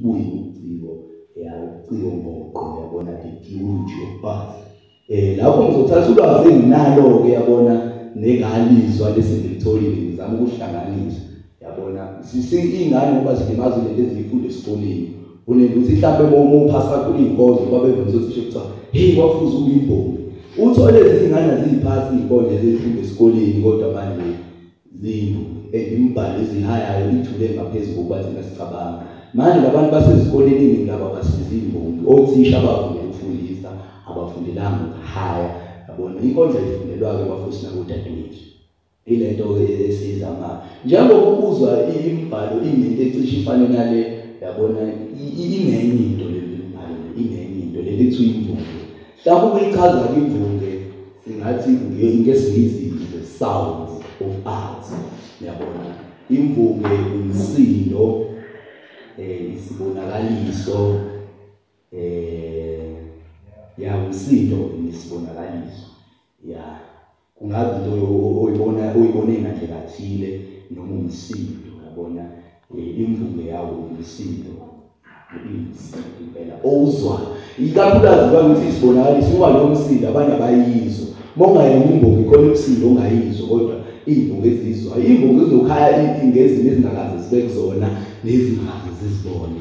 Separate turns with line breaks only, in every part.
buyi uciko ya uciko ngoqo yabona the beauty of past eh lapho ngizothatha ulwazi enginalo ke yabona nengalizwa lesi ngilitholile ngizama ukuhlanganisa yabona sisingane ngoba silimazile lezi zifundo esikoleni unento ukuthi mhlawumbe uma umupha sakho iy'nkonzo babevumisa ukuthi sho kuthiwa heyi wafuze uyimbongi uthole izingane ziyiphasi iy'konzo ezifundo esikoleni kodwa manje zindlu ezimbhali ezihayayo ithule ngaphezu kokuba thina sicabanga manje labantu basezikoleni iningi labo abasizi imbongi othisha abafunde ukufundisa abafundelanga ukuhaya yabona inkondla ifundelwa-ke bafuthi nakudadewethu ile nto esiza ma njengoba ubuzwa imbhalo ingento ecishe ifane nale yabona ingenye into le mbhalo ingenye into leli kuthiwa imvumo Lapho kuyichaza imvunge singathi ngesiyizi the sounds of art. Yabona imvunge umsindo eh isibonakaliso eh ya umsindo isibonakaliso. Yeah. kungabe into oyibona oyibone ngandlela kathile noma umsindo yabona eh, imvume yawo umsindo impela owuzwayo ikakhulukazi uba ukuthi isibonakaliso uba lowo msindo abanye abayizwa uma ungayena imbongi khona umsindo ongayizwa kodwa iy'mbongi ezizwayo iy'mbongi zizokhaya ngezinto ezingakaze zibe kuzona nezingaze zizibone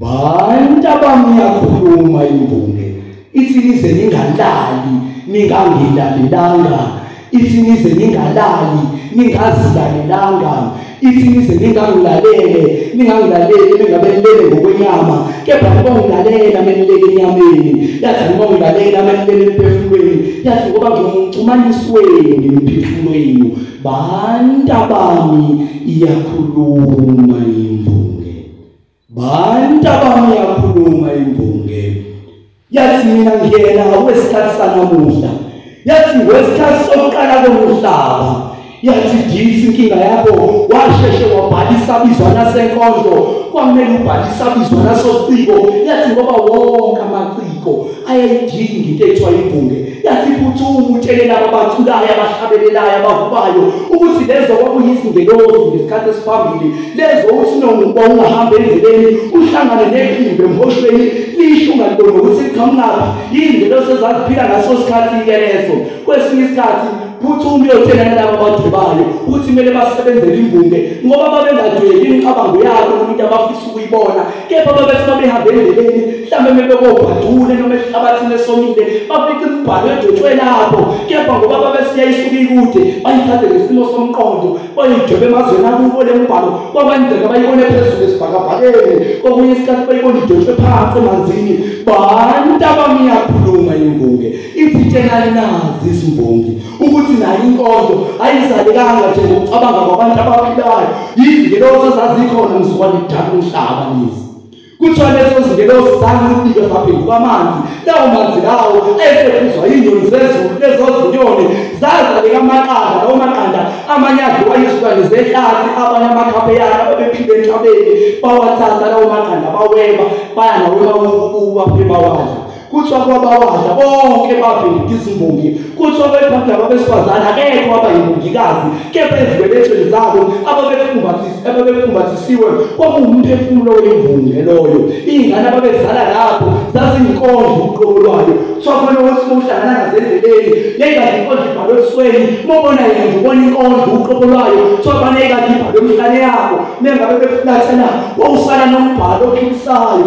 Bantabami yakhuluma imbonge ithi nize ningalali ningangilalelanga ithi nize ningalali ningazilalelanga ithi nize ningangilalele ningangilaleli ningabelele ngokwenyama kepha ngoba ngilalela menilele enyameni yathi ngoba ngilalela menilele emphefumulweni yathi ngoba ngimxhumanisi wenu ngemiphefumulo yenu bantabami iyakhuluma imbo Bantu abami yakhuluma imbonge. Yathi mina ngiyena ngokwesikhathi sanamuhla. Yathi ngokwesikhathi sokuqala komhlaba. Yathi disi inkinga yakho washeshe wabhalisa bizwa nasenkondlo kwamele ubhalisa bizwa nasociko yathi ngoba wonke amaciko ayayidinga into ekuthiwa imbunge Yathi iphuthumu utshele laba baculayo abahlabelelayo abahubayo ukuthi lezo kwakuyizingelozi ngesikhathi esiphambili lezo usinonguba ungahamba endleleni uhlangane nephimbo emhoshweni lisho ungaliboni ukuthi liqhamukaphi yini ngelosi ezaziphila ngaso sikhathi-ke leso kwesinye isikhathi Phuthuma uyotshela nalabo abadwebayo ukuthi kumele basebenzele imbumbe ngoba babengadwebi imicabango yabo umuntu abafisa ukuyibona kepha babethi babehambe endleleni mhlawumbe mebekobhadule noma esihlabathini esomile bafica imibhalo edwetshwe lapho kepha ngoba babesiyayisuka ikude bayithathe ngesimo somqondo bayidwebe emazweni akubo le mbhalo kwakwenzeka bayibone phezulu esibhakabhakeni kokunye isikhathi bayibone idwetshwe phansi emanzini bantu abamiyakhuluma imbunge Ithithelani na izimbongi ukuthi nayo inkonzo ayizalekanga nje ngokucabanga kwabantu abaphilayo yizingelosi ezazikhona mzukwane kudala umhlaba nizi kuthiwa lezo zingelosi zangibike zaphenduka amanzi lawo manzi lawo ayesephuzwa yinyoni zezulu lezo zinyoni zazaleka amaqanda lawo maqanda amanye adliwa yizilwane zehlathi abanye amakhaphe yakhe ababephile enhlabeni bawathatha lawo maqanda baweba baya nawo emakukuba bawadla kuthiwa kwabawadla bonke babhekile izimbongi kuthiwa bebhada babesifazane akekho wabayibongikazi kepha ezibeletsheni zabo ababefumbathisiwe kwakuwumphefumulo wemvunge loyo iy'ngane ababezala lapho zaziyinkonzo uqobo lwayo kuthiwa khona ukuthi mowuhlangana ngazendleleni neyikade inkonzo ibhalwe ebusweni mobona yena nje ubona inkonzo uqobo lwayo kuthiwa bane yikade ibhalwe emhlane yabo nengabe befulathela wawusala nombhalo ophilisayo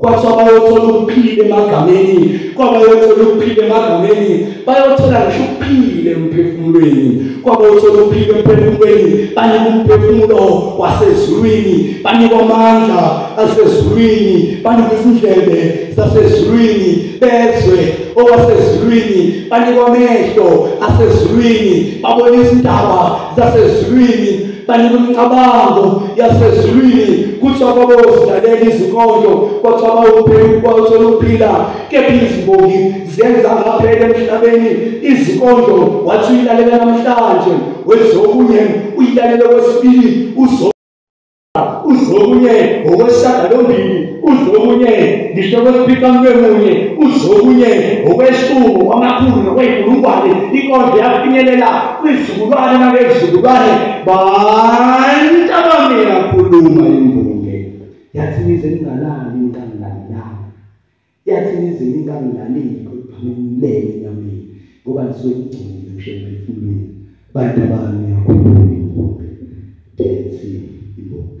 kwathiwa bayothola ukuphila emagameni kwabayothola ukuphila emagameni bayothola ngisho ukuphila emphefumulweni kwabayothola ukuphila emphefumulweni banikwa umphefumulo wasezulwini banikwa amandla asezulwini banikwa izindlebe zasezulwini bezwe okwasezulwini banikwa amehlo asezulwini babona izindaba zasezulwini kanye nomcabango yasezulwini kuthi ababozilalela izinkondlo kwathiwa bawuphekukwathole ukuphila kepha izimbongi zenza ngaphela emhlabeni izinkondlo wathi uyilalela namhlanje wezokunye uyilalela kwesibili uzo uzwe okunye ngokwesishagalombili uzwe okunye ngisho kwesiphicamlwemunye uzwe okunye ngokweshumi kwamakhulu nokweyinkulungwane inkondlo yafinyelela kwizizukulwane nakezizukulwane bantu abami yakhuluma imbonge yathi nize ningalali intangilalilani yathi nizini ingangilaleli ngiphamulele enyameni ngoba ngisuke ngigcine ngisho emphefumulweni bantu bami yakhuluma imbongi dethi imbongi